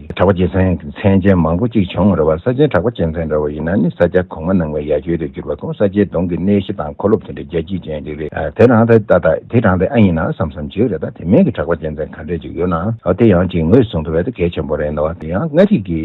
གྲགས་པ་རྒྱལ་མཚན་མཚན་ཅན་མང་པོ་གཅིག་བྱུང་རེ་བ་ས་ཆེན་གྲགས་པ་རྒྱལ་མཚན་འདྲ་བ་ཡིན་ན་ནི་ས་སྐྱ་གོང་མ་ནང་བའི་ཡ་གྱོད་དུ་གྱུར་པ་ཁོང་ས་སྐྱའི་གདོང་གི་གནས་གཞི་དང་འཁོར་ལོ་དེ་འདྲའི་རྒྱལ་སྐྱིད་ཅན་ཅིག་རེད་དེ་རང་དེ་ད་ལྟ་དེ་རང་དེ་ཨ་ཡིན་ན་བསམ་བསམ་བྱོས་རེད་ད་དེ་མིན་གྱི་གྲགས་པ་རྒྱལ་མཚན་ག་འདྲས་ཅིག་ཡོད་ན་འོ་དེ་ཡང་ཅིག་ངོས་བཟུང་དུ་བས་ད་གལ་ཆེན་པོ་རེད་ད་བ་དེ་ཡང་མངའ་རིས་ཀྱི་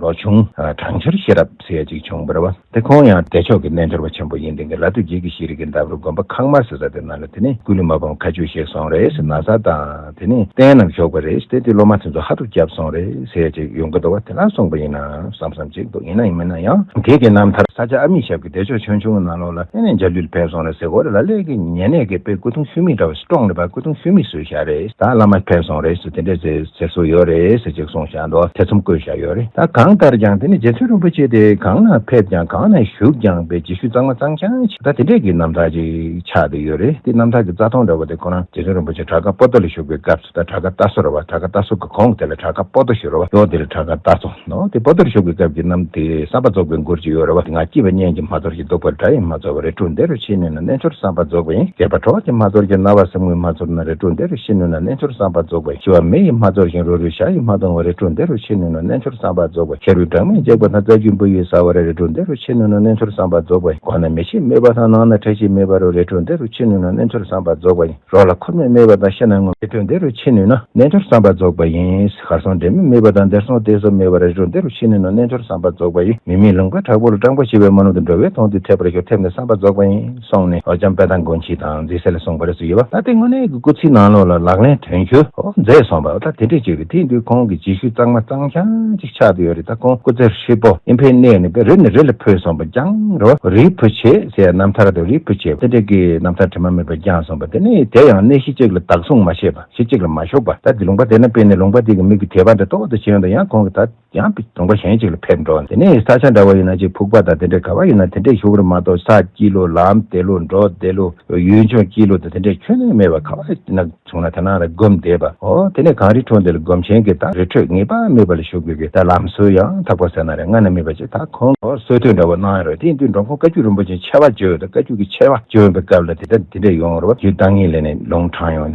ལོ་ཆུང་གྲང་འཁྱོར་ཤེས་རབ་ཟེར་ཡ་ཅིག་བྱུང་རེ་བ། དེ་ཁོང་ཡང་བདེ་མཆོག་གི་རྣལ་འབྱོར་པ་ཆེན་པོ་ཡིན་དེང་གི་ལ་སྟོད་རྒྱལ་གྱི་ཤེས་རིག་གི་འདབས་རུ་དགོན་པ་ཁང་དམར་ཟེར་ས་དེ་ན་ལ་དེ་ནས་ཀུན་ལུས་མ་ཕམ་ཁ་ཆུ་བཞེས་སོང་རེས་ན་བཟའ་དང་དེ་ནས་རྟེན་རྣམས་ཞོགས་པ་རེས་དེ་དེ་སློབ་མ་དེ་ཚོ་ཧ་ཐུག་བསྐྱབས་སོང་རེས་ཟེར་ཅིག་ཡོང་གི་འདུག་བ་དེ་ལ་གསུངས་པ་ཡིན་ནམ་བསམ་བསམ་ཅིག་འདུག་ཡིན་ན་ཡིན་མིན་ན་ཡང་དེ་གི་རྣམ་ཐར། ས་ཆ་ཨ་མི་ཞབས་ཀྱི་བདེ་མཆོག་ཆོས་འབྱུང་གི་ནང་ལོགས་ལ་ཨེ་ནས་འཇའ་ལུས་ལ་ཕེབས་སོང་རེས་ཟེར་གོ་རེ་ལ་ལས་ཀྱི་ཉེ་གནས་ཀྱི་དཔེ་སྐུ་གདུང་ཤུལ་མིག་འདྲ་བ་ཞིག་བཀྲོངས་ནས་པ་སྐུ་གདུང་ཤུལ་མིག་སུས་བཞག་རེས་ད་བླ་མ་ཕེབས་སོང་རེས་དེ་འདྲ་ཟེར་སྲོལ་ཡོད་རེད་ཟེར་ཅིག་སོང་བཞག་འགྲོ་ཐེ་ཚོམ་བཀོད་བཞག་ཡོད་རེད་ད་གང་ལྟར་ཀྱང་དེ་ནི་རྗེ་བཙུན་རིན་པོ་ཆེ་དེ་གང་ན་ཕེབས་ཀྱང་གང་ན་བཞུགས་ཀྱང་པའི་རྗེས་ཤུལ་གཙང་མ་གཙང་ཆང་ཆེ་ད་དེ་འདྲས་ཀྱི་རྣམ་ཐར་ཅིག་ཆགས་བསྡད་ཡོད་རེད་དེ་རྣམ་ཐར་གྱི་རྩ་ཐོང་འདྲ་བ་དེ་ཁོ་རང་རྗེ་བཙུན་རིན་པོ་ཆེ་བྲག་དཀར་སྤོ་ཏོ་ལ་བཞུགས་པའི་སྐབས་སུ་ད་བྲག་དཀར་རྟ་སོ་ར་བ་བྲག་དཀར་རྟ་སོ་གི་གོང་གི་དེ་ལ་བྲག་དཀར་སྤོ་ཏོ་ཞེས་རོ་བ་ཡོད་དེ་ལ་བྲག་དཀར་རྟ་སོ། ནོ། དེ་པོ་དོར་ཞོག་གི་སྐབས་ཀྱི་རྣམ་དེ་བསམ་པ་རྫོགས་པའི་མགུར་ཅིག་ཡོད་རེད་བ་དེ་ང་སྐྱིད་པ་གཉན་གྱིས་མ་དོར་གྱི་བདུག་པར་དགྲ་ཡིས་མ་ཚོར་བ་རེ་དྲུག་འདི་རུ་ཤེས་ནུས་ན་རྣལ་འབྱོར་བསམ་པ་རྫོགས་པ་ཡིན་སྒེར་པ་གྲོགས་ཀྱིས་མ་དོར་གྱི་ན་བ་སེམས་ངོས་མ་ཚོར་ན་རེ་དྲུག་འདི་རུ་ཤེས་ནུས་ན་རྣལ་འབྱོར་བསམ་པ་རྫོགས་པ་ཡིན་ཤི་བ་མི་ཡིས་མ་ཚོར་ཞིང་རོ་རུས་ཤ་ཡིས་མ་གཏོང་བ་རེ་དྲུག་འདི་རུ་ཤེས་ནུས་ན་རྣལ་འབྱོར་བསམ་པ་རྫོགས་པ་ཤ་རུས་སྦྲང་མས་འཇིགས་པ་དང་རྩ་རྒྱུས་འབུ་ཡིས་ཟ་བ་རེ་རེ་དྲུག་འདི་རུ་ཤེས་ནུས་ན་རྣལ་འབྱོར་བསམ་པ་རྫོགས་པ་ཡིན་སྒོ་ན་མི་ཞིག་རྨས་པ་དང་ནང་ན་ཁྲེལ་ཞིག་རྨས་པ་རུ་རེ་དྲུག་འདི་རུ་ཤེས་ནུས་ན་རྣལ་འབྱོར་བསམ་པ་རྫོགས་པ་ཡིན་རོགས་ལ་འཁོར་མོས་རྨས་པ་དང་ཤ་ན་ངུ་རེ་དྲུག་འདི་རུ་ཤེས་ནུས་ན་རྣལ་འབྱོར་བསམ་པ་རྫོགས་པ་ཡིན། གར་སོང་འབྲལ་མེད་སྨྲས་པ་དང་འདིར་སོང་གཏད་སོ་སྨྲས་པ་རེ་ཞུགས་འདི་རུ་ཕྱི་ནས་ནང་རྣལ་འབྱོར་བསམ་པ་རྫོགས་པ་ཡིས་མི་མེད་ལུང་པའི་བྲག་ཕུག་ལ་སྤྲང་པོ་བྱེ་བའི་རྨ་ལུང་དུ་འགྲོ་བས་མཐོང་དུས་འཐད་པར་ཞོག་ཐེབས་ནས་བསམ་པ་རྫོགས་པ་ཡིན་གསུངས་ནས་ཨོ་རྒྱན་དཔལ་ཐང་མགོན་ཁྱི་དང་མཛེས་སེ་ལ་གསུངས་པ་རེ་ཟུང་ཡོད་པ་ད་ལྟའི་དངོས་གནས་ཀྱི་སྐུ་ཚེའི་ནང་ལོགས་ལ་ལག་ལེན་དོན་འཁྱོལ་མཛད་སོང་བ་ད་དེ་འདྲས་བྱས་པས་དེ་དུས་ཁོང་གི་རྗེས་ཤུལ་གཙང་མ་གཙང་ཤང་གཅིག་ཆགས་འདི་ཡོད་རེད་ད་ཁོང་སྐུ་ཚེ་ཧྲིལ་པོ་ཨིན་ཕའི་གནས་ནས་པེ་རི་ནས་རི་ལ་འཕོས་སོང་བ་རྐྱང་རོ་རིའི་བུ་བྱེ་ཟེར་ཡང་རྣམ་ཐར་དང་རིའི་བུ་བྱེ་བ་དེ་འདྲས་ཀྱི་རྣམ་ཐར་དྲི་མ་མེད་པ་རྐྱང་གསུངས་པ་དེ་ནི་དེ་ཡང་གནས་གཞི་གཅིག་ལ་དག་གསུངས་མ་བྱས་པ། ཞེས་གཅིག་ལ་མ་ཞོག་པར་ད་དེ་ལུང་པ་དེ་ན་སྤེལ་ནས་ལུང་པ་དེ་གི་མིག་གི་དེད་པ་འདྲ་ལྟོགས་ལྟོགས་བྱེད་ཡོང་དང་ཡང་གོང་གི་ད་ཡང་པི་ལུང་པ་གཞན་གཅིག་ལ་ཕེབས་འགྲོ་དེ་ནས་ས་ཆ་འདྲ་བ་ཡིན་ན་གཅིག་ཕུག་པ་དང་དེ་འདྲས་ག་བ་ཡིན་ན་དེ་འདྲས་བཞུགས་ར་མ་གཏོགས་ས་སྐྱིད་ལོ་ལམ་དེད་ལོ་འབྲོག་དེད་ལོ་ཡུལ་ལྗོངས་སྐྱིད་ལོ་དང་དེ་འདྲས་ཁྱོན་ནས་མེད་པ་ག་བ་ཡིན་ན་བྱུང་ན་ད་ནང་ལ་སྒོམ་བསྡད་པ་འོ་དེ་ནས་གངས་རི་ཁྲོ་འདི་ལ་སྒོམ་ཆེན་གི་ད་རི་ཁྲོད་ངེས་པ་མེད་པ་ལ་བཞུགས་དགོས་གི་ད་ལམ་སྲོལ་ཡང་དག་པ་ཟེར་ན་རེ་སྔ་ན་མེད་པ་ཅིག་ད་ཁོང་གི་སྲོལ་ཐོས་འདྲ་བོ་གནང་ཡོང་རོགས་དེ་ཡིན་དུས་འབྲོང་ཁོང་བཀའ་བརྒྱུད་རིན་པོ་ཆེན་ཆེ་བ་བརྗོད་ཡོད་དོ་བཀའ་བརྒྱུད་ཀྱི་ཆེ་བ་བརྗོད་ཡོང་པའི་སྐབས་ལ་དེ་ད་དེ་འདྲས་ཡོང་རོགས་བརྒྱུད་བདག་ཉིད་ལས་ནས་ལུང་དྲངས་ཡོང།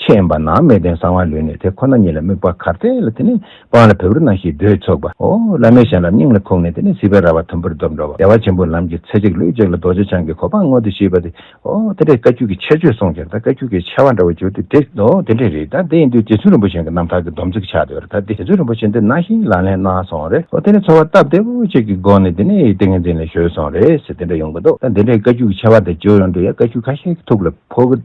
ཆད་ཡིན་པ་ན་མས་བརྟན་གསང་བ་ལུས་ནས་དེ་ཁོ་ན་ཉིད་ལ་དམིགས་པ་གར་ཏེ་ལ་དེ་ནས་སྤང་ལ་བེ་རུ་སྣང་ཞིག་རྡོས་ཚོགས་པ། ཧོ། བླ་མའི་ཞལ་ལ་སྙིང་ལ་ཁུག་ནས་དེ་ནས་སྲིད་པའི་ར་བ་དུམ་བུར་རྡོབ་འགྲོ་བ་བདེ་བ་ཆེན་པོའི་ལམ་གྱི་ཚེ་གཅིག་ལུས་གཅིག་ལ་རྡོ་རྗེ་འཆང་གི་གོ་འཕང་མངོན་དུ་ཤེས་པ་དེ། ཧོ། དེ་འདྲའི་བཀའ་བརྒྱུད་ཀྱི་ཆད་ཆོས་གསུངས་ཀྱང་ད་བཀའ་བརྒྱུད་ཀྱི་ཆད་བ་འདྲ་བོ་གྱུར་ཏེ་དེ། ཧོ། དེ་འདྲའི་རིགས་ད་དེ་ཡིན་དུས་རྗེ་བཙུན་རིན་པོ་ཆེན་གྱི་རྣམ་ཐར་གྱི་སྡོམ་ཚིག་ཆགས་འདི་བར་ད་དེ་རྗེ་བཙུན་རིན་པོ་ཆེན་འདི་ན་ཞིག་ལག་ལེན་གནང་སོང་རེད་ཧོ། དེ་ནས་འཚོ་བ་སྟབས་བདེ་བོ་ཅིག་གི་སྒོ་ནས་དེ་ནས་ཏིང་ངེ་འཛིན་ལ་གཞོལ་སོང་རེད་ཟེར་དེ་འདྲ་ཡོང་གི་འདུག་ད་དེ་འདྲའི་བཀའ་བརྒྱུད་ཀྱི་ཆད་བ་དེ་བརྗོད་ཡོང་དུས་ཡ་བཀའ་བརྒྱུད་ཁ་ཤས་ཀྱི་ཐུགས་ལ་ཕོག་གི།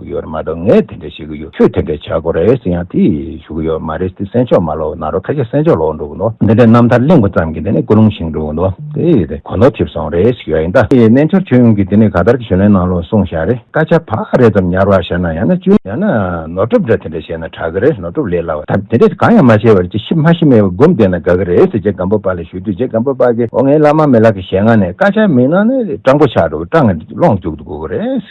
གི་ཡོད་རེད་མ་གཏོགས་ངས་དེ་འདྲ་བཤད་གི་ཡོད་ཁྱོས་དེ་འདྲ་བྱ་དགོས་རེད་ཟེར་ཡང་དེ་ཞུ་གི་ཡོད་མ་རེད་དེ་སེམས་ཕྱོགས་མ་ལོག་ན་རོགས་ཁ་ཤས་སེམས་ཕྱོགས་ལོག་འགྲོ་གི་འདུག་འདི་འདྲའི་རྣམ་ཐར་གླེང་བ་ཙམ་གྱིས་དེ་ནས་ཀུན་སློང་བཞིན་འགྲོ་གི་འདུག་དེ་ཡིན་ཏེ་གོ་ནོར་ཐེབས་སོང་རེད་ཞུ་ཡ་ཡིན་ད་ཡིན་ནས་འཆར་ཁྱོད་ཡོང་གི་དེ་ནས་ག་ལྟར་གྱི་ཞུ་ལན་གནང་རོགས་གསུངས་བཞག་རེད་སྐད་ཆ་བག་རེ་ཙམ་ཉར་བ་བྱས་ན་ཡང་ན་གཅུན། ཡང་ན་ནོར་སྒྲུབ་འདྲ་དེ་འདྲ་བྱས་ན་དྲག་གི་རེད་ནོར་སྒྲུབ་ལས་སླ་བ་ད་དེ་འདྲ་གང་ཡང་མ་བྱས་པར་ཅི་ཤི་མ་ཤི་མེད་པར་སྒུམ་བསྡད་ན་དགའ་གི་རེད་ཟེར་རྗེ་སྒམ་པོ་པ་ལ་ཞུས་དུས་རྗེ་སྒམ་པོ་པ་གིས་ཨོ་ངའི་བླ་མ་མེད་ལགས་ཀྱི་ཞེད་ངང་ནས་སྐད་ཆ་མི་གནང་ནས་སྤྲང་པོ་ཆགས་འགྲོ་གི་སྤྲང་ངན་ལོངས་སྤྱུག་ཏུ་དགོས་གི་རེད།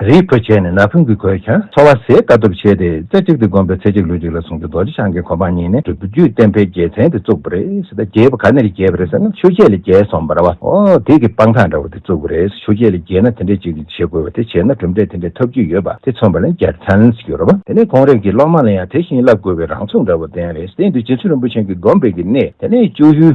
རིའི་བུ་བྱས་ནས་ན་བུན་གྱིས་གོས་ཀྱང་འཚོ་བ་ཟད་དཀའ་སྟོབས་ཆེ་སྟེ་རྩེ་གཅིག་ཏུ་བསྒོམས་པས་ཚེ་གཅིག་ལུས་གཅིག་ལ་བཟུང་སྟེ་རྡོ་རྗེ་འཆང་གི་གོ་འཕང་བརྙེས་ནས་སྒྲུབ་བརྒྱུད་བསྟན་འཕེལ་རྒྱལ་མཚན་དེ་བཙུགས་པ་རེད་ད་རྒྱལ་བ་ག་ནས་རེ་རྒྱལ་བ་རེད་ཟེར་ན་ཆུ་སྐྱེས་ལས་རྒྱལ་སོང་བ་ར་བ་ཨོ་དེ་གི་དཔང་རྟགས་འདྲ་བོ་དེ་བཙུགས་པ་རེད་ཆུ་སྐྱེས་ལས་རྒྱལ་ན་དེ་འདྲས་ཅིག་བྱེད་དགོས་བ་དེ་བྱས་ན་གྲུབ་འབྲས་དེ་འདྲས་ཐོབ་རྒྱུ་ཡོད་པ་དེ་མཚོན་པ་ལ་རྒྱལ་མཚན་གྱུར་ར་བ། དེ་ནས་གོང་རིམ་གྱི་སློབ་མ་ལ་ཡང་དེ་བཞིན་བསླབ་དགོས་བའི་རང་ཚུགས་འདྲ་བོ་ལྡན་རེད་དེ་འདུལ་བྱེད་ཚུལ་རིན་པོ་ཆེན་གྱི་བསྒོམ་པའི་གི་གནས་དེ་ནས་བཅུ་བཞི།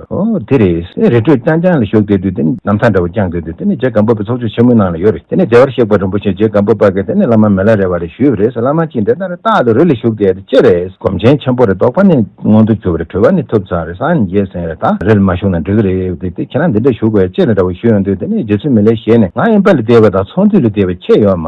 དེ་རེད། རེ་འཕྲོས་རྐྱང་རྐྱང་ལ་ཞུགས་བསྡད་དུས་དེ་ནི་ནམ་ཚང་འདྲ་བོ་བསྐྱངས་བསྡད་དུས་དེ་ནི་རྗེ་སྒམ་པོ་པའི་ཚོགས་ཆུང་ཆེན་མོའི་ནང་ལ་ཡོད་རེད་དེ་ནས་བདེ་བར་གཤེགས་པ་རིན་པོ་ཆེ་རྗེ་སྒམ་པོ་པ་གིས་དེ་ནི་བླ་མ་མི་ལ་རེ་བ་རེ་ཞུས་པ་རེད་ཟེར་བླ་མ་གཅིག་འདི་ལྟར་རེ་བཏགས་ཏེ་རུ་ལ་ཞུགས་བསྡད་དེ་ཅི་རེད། སྒོམ་ཆེན་ཆེན་པོ་རེ་དོགས་པ་ནི་མངོན་དུ་གྱུར་པ་རེ་གྲོལ་བ་ནི་ཐུབ་ཚང་རེ་སངས་རྒྱས་སེང་རེ་དང་རེ་ལ་མ་ཞུགས་ན་འགྲིག་གི་རེད་བསྡད་དེ་ཁྱེད་རང་འདི་འདྲ་ཞུགས་པ་ཡ་ཅི་རེད་འདྲ་བོ་ཞུས་ཡོང་དུས་དེ་ནི་རྗེ་བཙུན་མི་ལའི་ཞལ་ནས་ང་ཨིན་པ་ལ་བསྡད་པ་དང་ཚོང་འདུས་ལ་བསྡད་པ་ཁྱེད་ཡོད་མ།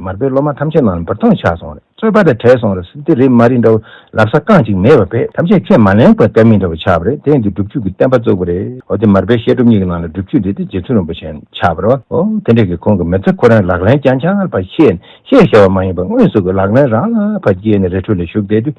མར་པའི་སློབ་མ་ཐམས་ཅད་མ་རུང་བར་སྟོང་ཆགས་སོང་རེད་རྩོད་པ་དང་བྲལ་སོང་རེད་འདི་རེད་མ་རེད་འདྲ་བོ་ལབ་ས་རྐང་གཅིག་མེད་པ་བས་ཐམས་ཅད་ཁས་མ་ལེན་དགོས་གཏན་མིན་འདྲ་བོ་ཆགས་པ་རེད་དེ་འདི་སྒྲུབ་བྱུས་ཀྱི་བསྟན་པ་བཙུགས་པ་རེད་འོ་དེ་མར་པའི་བཤད་སྒྲུབ་གཉིས་ཀྱི་ནང་ལ་སྒྲུབ་བྱུས་འདི་དེ་རྗེ་བཙུན་རིན་པོ་ཆེན་ཆགས་པ་རེད་བ་འོ་དེ་འདྲས་ཀྱི་ཁོང་གི་མི་ཚེ་ཁོ་རང་ལག་ལེན་རྐྱང་ཆགས་པ་ཤེས་ནས་བཤད་ཞེས་བ་མ་ཡིན་པར་དངོས་སུ་གི་ལག་ལེན་རང་ལ་བ་སྐྱེས་ནས་རི་ཁྲོད་ལ་བཞུགས་བསྡད་དུས་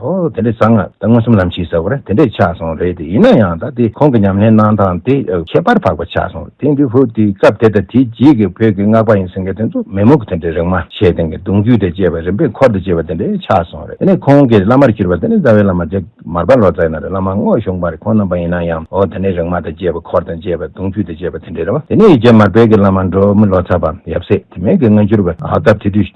ཨོ། དེ་འདྲའི་བཟང་ང་ད་མངོན་སུམ་ལམ་ཕྱིས་ཟེར་བ་རེད་དེ་འདྲས་ཆགས་སོང་རེད་དེ་ཡིན་ན་ཡང་ད་དེ་ཁོང་གི་ཉམས་ལེན་གནང་སྟངས་དེ་ཁྱད་པར་འཕགས་པ་ཆགས་སོང་དེང་དུས་བོད་དུས་སྐབས་དེ་དང་དེའི་རྗེས་ཀྱི་བོད་ཀྱི་སྔགས་པ་ཡིན་ཟེར་མཁན་དེ་ཚོ་མེད་མུག་གི་དེ་འདྲའི་རིག་མ་ཆེ་སྟེང་གི་གདུང་རྒྱུད་དེ་བཅས་པ་རིམ་པས་འཁོར་དུ་བཅས་པ་དེ་འདྲས་ཆགས་སོང་རེད་དེ་ནས་ཁོང་གི་བླ་མར་གྱུར་པ་དེ་ནི་རྩ་བའི་བླ་མ་རྗེ་མར་པ་ལོ་ཙཱའི་ནང་དུ་བླ་མ་དངོས་བྱུང་བར་ཁོང་སྣང་པ་ཡིན་ན་ཡང་ཨོ་དེ་འདྲའི་རིག་མ་དང་བཅས་པ་འཁོར་དང་བཅས་པ་གདུང་རྒྱུད་དེ་བཅས་པ་དེ་འདྲས་རེད་བ་དེ་ནས་རྗེ་མར་པའི་གི་བླ་མ་འབྲོག་མི་ལོ་ཙཱ་བ་ཡབ་སྲས་དེ་མེད་གི་སྔ་འགྱུར་བ་སྟབས་དེ་དུས།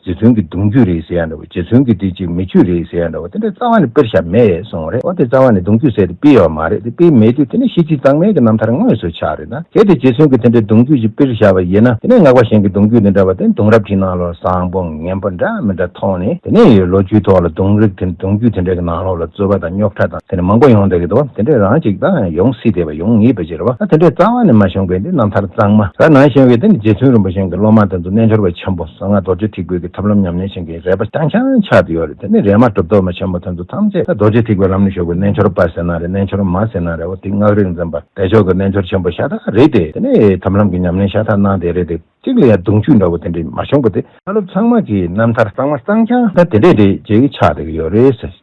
རྗེ་བཙུན་གྱི་གདུང་རྒྱུད་རེད་ཟེར་ཡ་འདྲ་བོ་རྗེ་བཙུན་གྱི་དེ་ཅིག་མི་ཆོས་རེད་ཟེར་ཡ་འདྲ་བོ་དེ་འདྲ་རྩ་བ་ནས་དཔེར་བཞག་མེད་སོང་བ་རེད་འོ་དེ་རྩ་བ་ནས་གདུང་རྒྱུད་ཟེར་དེ་སྤེལ་ཡོད་པ་མ་རེད་དེ་སྤེལ་མེད་དུས་དེ་ནས་ཤེས་ཚིག་གཙང་མའི་གི་རྣམ་ཐར་དངོས་སུ་ཆགས་རེད་ན་གལ་ཏེ་རྗེ་བཙུན་གྱི་དེ་འདྲའི་གདུང་རྒྱུད་ཅིག་སྤེལ་བཞག་པ་ཡིན་ན་དེ་ནས་སྔགས་པ་གཞན་གྱི་གདུང་རྒྱུད་འདི་འདྲ་བ་དེ་གདུང་རབས་ཀྱི་ནང་ལོར་བཟང་པོ་ངན་པོ་འདྲ་མི་འདྲ་ཐོག་ནས་དེ་ནས་ཡོད་ལོ་རྒྱུས་ཐོག་ལ་གདུང་རིགས་དེ་གདུང་རྒྱུད་དེ་འདྲའི་གི་ནང་ལོགས་ལ་རྩོད་པ་དང་རྙོག་ཁྲ་དང་དེ་འདྲ་མང་པོ་ཡོང་འདོད་ཀྱི་འདུག་དེ་འདྲའི་རང་ཅིག་དང་ཡོང་སྲིད་དེ་བ་ཡོང་ངེས་པའི་ཕྱིར་རོ་ད་དེ་འདྲའི་རྩ་བ་ནས་མ་བྱུང་བས་འདི་རྣམ་ཐར་གཙང་མ་ར་ནང་བཞིན་བས་དེ་ནི་རྗེ་བཙུན་རིན་པོ་ཆེན་གྱི་སློབ་མ་དེ་ཚོ་རྣལ་འབྱོར་བའི་ཆེན་པོ། གསང་སྔགས་རྡོ་རྗེ་ཐིག་དགོད་ཀྱི་ཐབས་ལམ་ཉམས་ལེན་བྱེད་མཁན་རས་པ་རྐྱང་རྐྱང་ཆགས་ཏེ་ཡོད་རེད་དེ་ནས་རས་མ་གྲུབ་མདོག་མ་ཆེན་པོ་དེ་ཚོ་ཐམས་ཅད་རྡོ་རྗེ་ཐིག་པའི་ལམ་ནས་ཞོག་གི་རྣལ་འབྱོར་པ་ཟེར་ན་རེད་རྣལ་འབྱོར་མ་ཟེར་ན་རེད་འོ་དེ་སྔགས་རིག་འཛིན་པ་བདེ་མཆོག་གི་རྣལ་འབྱོར་ཆེན་པོ་ཤ་སྟག་རེད་དེ་དེ་ནས་ཐབས་ལམ་གྱི་ཉམས་ལེན་ཤ་སྟག་གནང་དེ་རེད་དེ་གཅིག་ལ་ཡང་གདུང་བཅུད་འདྲ་བོ་དེ་འདྲས་མ་བྱུང་གི་དེ། བཀའ་སློབ་ཚང་མ་གྱི་རྣམ་ཐར་གཙང་མ་གཙང་རྐྱང་དེ་འདྲས་རེད་ཅེས་ཀྱི་ཆགས་བསྡད་ཀྱི་ཡོད་རེད།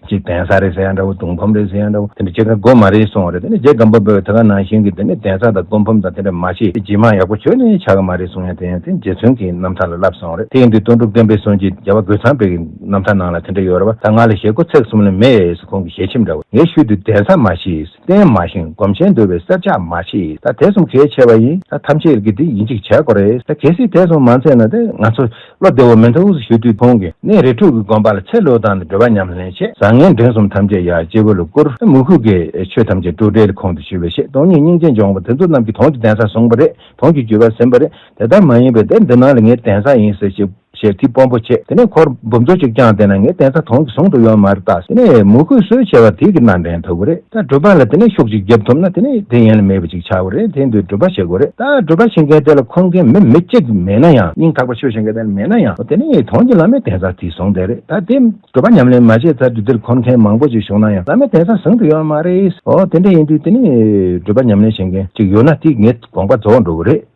གཅིག་གདན་ས་རེད་ཟེར་ཡང་འདྲ་བོ་གདུང་ཕམ་རེད་ཟེར་ཡང་འདྲ་བོ་དེ་ནས་ཇེ་དགའ་སྒོ་མ་རེད་སོང་བ་རེད་དེ་ནས་ཇེ་དགའ་འབབ་འབབ་ད་ག་ནང་བཞིན་གྱི་དེ་ནས་གདན་ས་དང་སྒོ་ཕམ་དང་དེ་འདྲ་མ་བྱེད་དེ་ཇེ་མང་ཡག་པོ་བྱོས་ནས་ཆག་གི་མ་རེད་གསུང་ཡང་དེ་ཡང་དེ་རྗེ་བཙུན་གྱི་རྣམ་ཐར་ལ་བསླབས་སོང་བ་རེད་དེ་ཡིན་དུས་སྟོན་གྲུབ་བསྟན་པའི་གསུང་གྱི་རྒྱལ་བ་རྒོད་ཚང་པའི་རྣམ་ཐར་ནང་ལ་དེ་འདྲ་ཡོད་རེད་བ་ད་ང་ལ་ཞེ་དགུ་ཚེག་གསུམ་ལས་མེད་ཡས་ཁོང་གི་ཞལ་ཆེམས་འདྲ་བོ་ངས་ཞུས་དུས་གདན་ས་མ་ཤེས། བརྟན་མ་ཞིང་སྒོམ་ཆེན་འདོད་པའི་སྲེད་ཆགས་མ་མཆིས་ད་དེ་གསུམ་གལ་ཆེ་བ་ཡིན་ད་ཐམས་ཅད་ཀྱི་འདི་ཡིན་ཅིག་བྱས་དགོས་རེད་ད་གལ་སྲིད་དེ་གསུམ་མ་མཚན་ན་ད་ང་ཚོ་བློ་བདེ་བོ་མེད་མཐའ་དབུས་སུ་ཞུ་དུས་ཁོང་གི་གནས་རི་ཕྲུག་གི་དགོན་པ་ལ་ཚེ་ལོས་དང་འབྲེལ་བ་ཉམས་ལེན་ཆེད་བཟང་ངན་འབྲིང་གསུམ་ཐམས་ཅད་ཡར་སྤྱི་བོ་ལ་བསྐུར་ད་མུ་ཁུག་གི་ཆོས་ཐམས་ཅད་སྤྲོ་བྲལ་ཁོང་དུ་ཞུ་བའི་ཆེད་སྟོང་ཉིད་སྙིང་རྗེ་འབྱོངས་པ་དེ་ཚོ་རྣམས་ཀྱི་དོན་གྱི་གདན་ས་བཟུང་བ་རེད་དོན་གྱི་བརྒྱུད་པ་ཟིན་པ་རེད་དེ་ལྟར་མ་ཡིན་པའི་དེབ་འདི་ནང་ལ་ངའི་གདན་ས་ཡིན་ཟེར་ཞིག། ཞལ་གཅིག་སྤོམ་པོ་བྱེད། དེ་ནས་འཁོར་འབུམ་ཚོ་གཅིག་བསྐྱངས་དེ་ན་ངའི་གདན་ས་དོང་གི་ཟུང་དུ་ཡོད་མ་རེད་ད། དེ་ནས་མོ་གུས་གསོལ་བྱས་པ་དེ་གི་ནང་འདྲེན་ཐུབ་ཀི་རེད་ད་སྒྲུབ་པ་ལ་དེ་ནས་ཤུགས་གཅིག་རྒྱབ་ཐུབ་ན་དེ་ནས་དེ་ཡན་ལ་མེད་པ་ཅིག་ཆགས་ཀི་རེད་དེ་འདུས་སྒྲུབ་པ་བྱེད་དགོས་རེད་ད་སྒྲུབ་པ་བྱེད་མཁན་དེ་ལ་འཁོན་མཁན་མི་མི་གཅིག་མེད་ན་ཡང་སྙིང་ཐག་པ་ཆོད་བྱེད་མཁན་དེ་ལ་མེད་ན་ཡང་འོ་དེ་ནས་དོང་གི་བླ་མའི་གདན་ས་དེ་བཟུང་བསྡད་རེད་ད་དེ་སྒྲུབ་པ་ཉམས་ལེན་མ་བྱས་ཚར་དུས་འདིར་འཁོན་མཁན་མང་པོ་ཅིག་བཞུགས་ན་ཡང་བླ་མའི་གདན་ས་ཟུང་དུ་ཡོད་མ་རེད་འོ་དེ་འདྲ་ཡིན་དུས་དེ་ནས་སྒྲུབ་པ་ཉམས་ལེན་བྱེད་མཁན་ཅིག་ཡོད་ན་དེ་ངའི་དགོངས་པ་རྫོགས་འགྲོ་གི་རེད།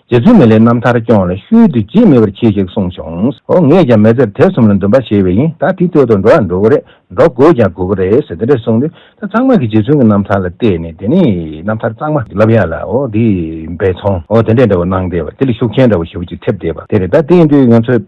རྗེ་བཙུན་མི་ལའི་རྣམ་ཐར་སྐྱོང་ལ་ཤུལ་དུ་བརྗེད་མེད་པར་གྱིས་ཤིག་གསུངས་བྱུང། ཨོ་ངས་ཀྱང་མེ་ཙེར་དེབ་གསུམ་ལ་འདུན་པ་ཆེ་བས་ཡིན་ད་དེ་སྟོད་དུ་འགྲོ་ཡང་འགྲོ་གི་རེད་འགྲོ་དགོས་ཀྱང་དགོས་ཀྱི་རེད་ཟེར་དེ་འདྲ་གསུངས་ཏེ་ད་ཚང་མ་གིས་རྗེ་བཙུན་གྱི་རྣམ་ཐར་ལ་བལྟས་ནས་དེ་ནས་རྣམ་ཐར་གཙང་མ་ལབ་ཡག་ལ་ཨོ་དེ་འབད་འཚོང་ཨོ་དེ་འདྲས་འདྲ་བོ་གནང་བསྡད་པ་དེ་ལ་ཤུགས་ཆེན་འདྲ་བོ་ཞེ་བོ་ཅིག་ཐེབས་བསྡད་པ་དེ་རེད་ད་དེ་ཡིན་དུས་ང་ཚོ།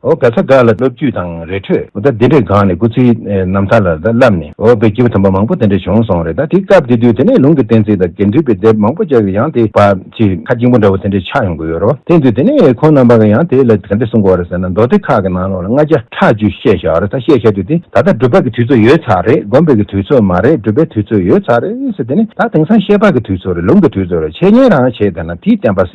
འོ་ག་ཚ་འགག་ལ་སློབ་བརྒྱུད་དང་རེ་འཕྲོད། འོ་ད་འདི་འདྲའི་སྒང་ནས་སྐུ་ཚེའི་རྣམ་ཐར་ལ་བསླབས་ནས་འོ་བོད་སྐྱིད་པོ་དམ་པ་མང་པོ་དེ་འདྲ་བྱུང་སོང་རེད་ད་དེ་སྐབས་དེ་དུས་དེ་ནས་ལུང་གི་གཏན་ཚིགས་དང་དགེ་འདུན་པའི་དེབ་མང་པོ་ཅག་གི་ཡང་དེ་བ་ཆེ་ཁ་སྐྱིང་པོ་འདྲ་བོ་དེ་འདྲ་ཆགས་ཡོང་གི་ཡོད་རོ་དེ་དུས་དེ་ནས་ཁོང་རྣམ་པ་གི་ཡང་དེ་ལ་ག་འདྲ་གསུང་གོ་རེ་ཟེར་ན་མདོ་སྡེ་ཁག་གི་ནང་ལོགས་ལ་ལྔ་བརྒྱ་ཕྲག་བཅུ་བཤད་ཤག་རེ་ད་བཤད་ཤག་དུས་དེ་ད་ལྟ་སྒྲུབ་པ་གི་དུས་ཚོད་ཡོད་ཚག་རེད་སྒོམ་པའི་གི་དུས་ཚོད་མ་རེད་སྒྲུབ་པའི་དུས་ཚོད་ཡོད་ཚག་རེད་ཟེར་དེ་ནས་ད་དེང་སང་བཤད་པ་གི་དུས་ཚོད་རེད་ལུང་གི་དུས་ཚོད་རེད་འཆད་ཉན་རང་བྱེད་དེ་ན་དེའི་བསྟན་པ་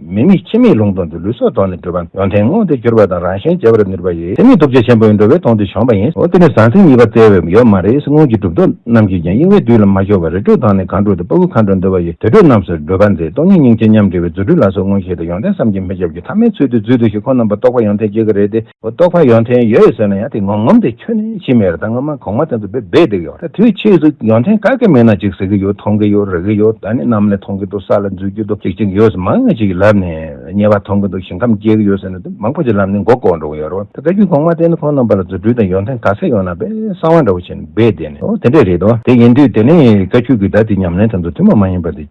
མི་དམིགས་ཕྱི་མིག་ལུང་སྟོང་གི་ལུས་སོགས་དོར་ནས་བགྲོད་པ། ཡོན་ཏན་མངོན་དུ་གྱུར་པ་དང་རང་གཞན་འབྱེད་པར་ནུས་པ་ཡི། དེ་ནི་ཐུགས་རྗེ་ཆེན་པོའི་འགྲོ་བའི་དོང་དུ་བྱོན་པ་ཡིན། འོ་དེ་ནི་ཟང་ཟིང་གཉིས་པ་བཙལ་བའི་ཡོད་མ་རེད་སྔོན་གྱི་སྒྲུབ་ཐོབ་རྣམས་ཀྱིས་ཀྱང་གཡེང་བས་དུས་ལ་མ་ཤོར་བར་རི་ཁྲོད་དང་ནི་གངས་ཁྲོད་དུ་དཔའ་བོ་མཁའ་འགྲོ་འདུ་བ་ཡི་དུར་ཁྲོད་རྣམས་སུ་བགྲོད་པ་མཛད་སྟོང་ཉིད་སྙིང་རྗེ་མཉམ་འབྲེལ་བའི་རྫུ་འཕྲུལ་ལ་སོགས་མངོན་ཤེས་དང་ཡོན་ཏན་བསམ་གྱིས་མི་ཁྱབ་ཀྱི་ཐ་མའི་ཚུལ་དུ་རྫུས་བསྡུས་ཤིང་ཁོང་རྣམ་པར་རྟོག་པ་ཡང་ཐེག་བརྒྱད་ཀྱི་རེ་སྟེ། རྟོག་པ་ཡོངས་ཐེངས་ཡོད་ཟེར་ན་ཡང་དེ་ངོམ་ངོམ་དེ་ཁྱོད་ནི་ཤི་མེད་རེད་ད་ངོ་མ་གོང་མ་དེ་ཚོ་བེད་བེད་བསྡད་གི་ཡོད་ད་དུས་ཕྱིས་སུ་ཡོངས་ཐེངས་ག་གེ་མེད་ན་ཅིག་ཟེར་གི་ཡོད་མཐོང་གི་ཡོད་རེག་གི་ཡོད་ད་ནི་ནམ་ལས་མཐོང་གི་འདུག་ས་ལ་འཛུལ་གྱི་འདུག་ཅིག་ཅིག་ཡོད་ཚོ་མང་ངེས་ཅིག་གི་ལབ་ནས་ཉེས་པ་མཐོང་གི་འདུག་ཞིང་ཁམས་སྐྱེལ་གི་ཡོད་ཟེར་ནས་དེ་མང་པོ་ཅིག་ལབ་ནས་མགོ་བསྐོར་འགྲོ་གི་ཡོད་རེད་ད་བཀའ་རྒྱུད་གོང་མ་དེ་ནི་ཁོང་རྣམ་པ་ལ་རྫུ་འཕྲུལ་དང་ཡོངས་ཐེངས་ག་ཚད་ཡོད་ན་བས་གསང་བ་འདྲ་བོ་བྱས་ནས་བེད་བསྡད་ནས་འོ་དེ་འདྲས་རེད་དོ་དེ་ཡིན་དུས་དེ་ནི་བཀའ་རྒྱུད་ཀྱི་ད་དེ་ཉམས་ལེན་དེ་ཚོ་ཐུན་མོང་མ་ཡིན་པ་དེ།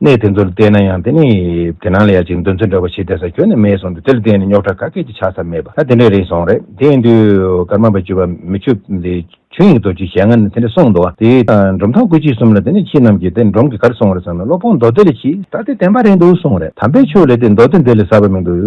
གནས་དེ་ཚོར་བལྟས་ན་ཡང་དེ་ནི་དེ་སྣང་ལ་ཡ་ཅིག་འདོན་ཚུལ་འདྲ་བོ་ཞིག་དེ་སར་གྱོན་ནས་མེད་སོང་སྟེ་དེར་བལྟས་ནས་རྙོག་ཁྲ་ག་སྐད་ཅིག་ཆགས་ས་མེད་པ་ད་དེ་འདྲའི་རིགས་སོང་རེད་དེ་ཡིན་དུས་ཀརྨ་པ་བཅུ་པ་མི་ཆུ་དེ་ཆུ་ཡིན་གྱི་དོ་ཅི་ཞེ་ང་ནི་དེ་འདྲ་གསུངས་འདུག་དེ་དང་འབྲོམ་ཐང་སྐུ་མཆེད་གསུམ་ལ་དེ་ནས་ཁྱེད་རྣམས་ཀྱིས་དེ་འབྲོམ་གྱི་གར་སོང་བ་རེད་བསམ་ན་བློ་ཕོག་མདོ་སྡེ་ལས་ཕྱིས་ད་དེ་བདེན་པ་རེད་འདུག་གསུངས་རེད་དམ་པའི་ཆོས་ལས་དེ་མདོ་སྡེ་འདི་ལས་ཟབ་པ་མི་འདུག་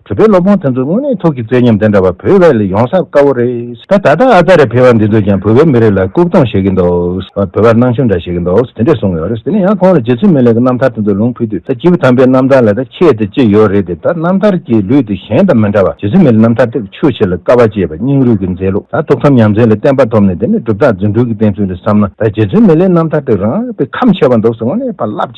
བོད་པའི་སློབ་དཔོན་དེ་ཚོ་དངོས་གནས་ཐུགས་ཀྱི་བརྩེ་ཉམས་དེ་འདྲ་བ་བོད་བས་ལས་ཡོང་ས་དཀའ་བོ་རེད། ད་ད་ལྟ་ཨ་ཙ་རེ་ཕེ་བ་འདི་ཚོས་ཀྱང་བོད་པའི་མི་རིགས་ལ་སྐུག་གཏོང་བྱེད་ཀྱི་འདུག་བོད་པར་སྣང་ཆུང་འདྲ་བྱེད་ཀྱི་འདུག་དེ་འདྲས་གསུངས་ཡོད་རེད་དེ་ནས་ཡང་ཁོང་ལ་རྗེ་བཙུན་མི་ལེགས་ཀྱི་རྣམ་ཐར་དེ་ཚོ་ལུང་ཕུལ་དུས་ད་སྐྱེས་བུ་དམ་པའི་རྣམ་ཐར་ལ་ད་ཁྱད་དེ་ཅི་ཡོད་རེད་དེ་ད་རྣམ་ཐར་གྱི་ལུས་དེ་གཞན་དང་མི་འདྲ་བ་རྗེ་བཙུན་མི་ལེགས་རྣམ་ཐར་དེབ་ཆུ་བྱི་ལ་ཀ་བ་ཅེས་པ་སྙིང་རུས་ཀྱི་མཛེས་ལུགས་ད་ཐུགས་དམ་ཉམས་ཟིན་ལ་བསྟན་པ་ཐོབ་ནས་དེ་ནས་གྲུབ་རྟགས་རྫུན་སྒྲུང་གི་བསྟན་ཚུལ་ལ་བསམ་ན་ད་རྗེ་བཙུན་མི་ལེགས་རྣམ་ཐར་དེ་རང་དཔེ་ཁམས་ཆེ་བ་འདུག་སེ་དངོས་གནས་ཕ་བླ།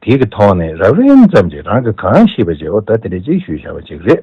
དེ་གི་ཐོག་ནས་རགས་རིམ་ཙམ་གྱིས་རང་གི་གང་ཤེས་པ་བྱའོ་ད་དེ་འདྲའི་ཅིག་ཞུས་བྱ་བ་ཅིག་རེད།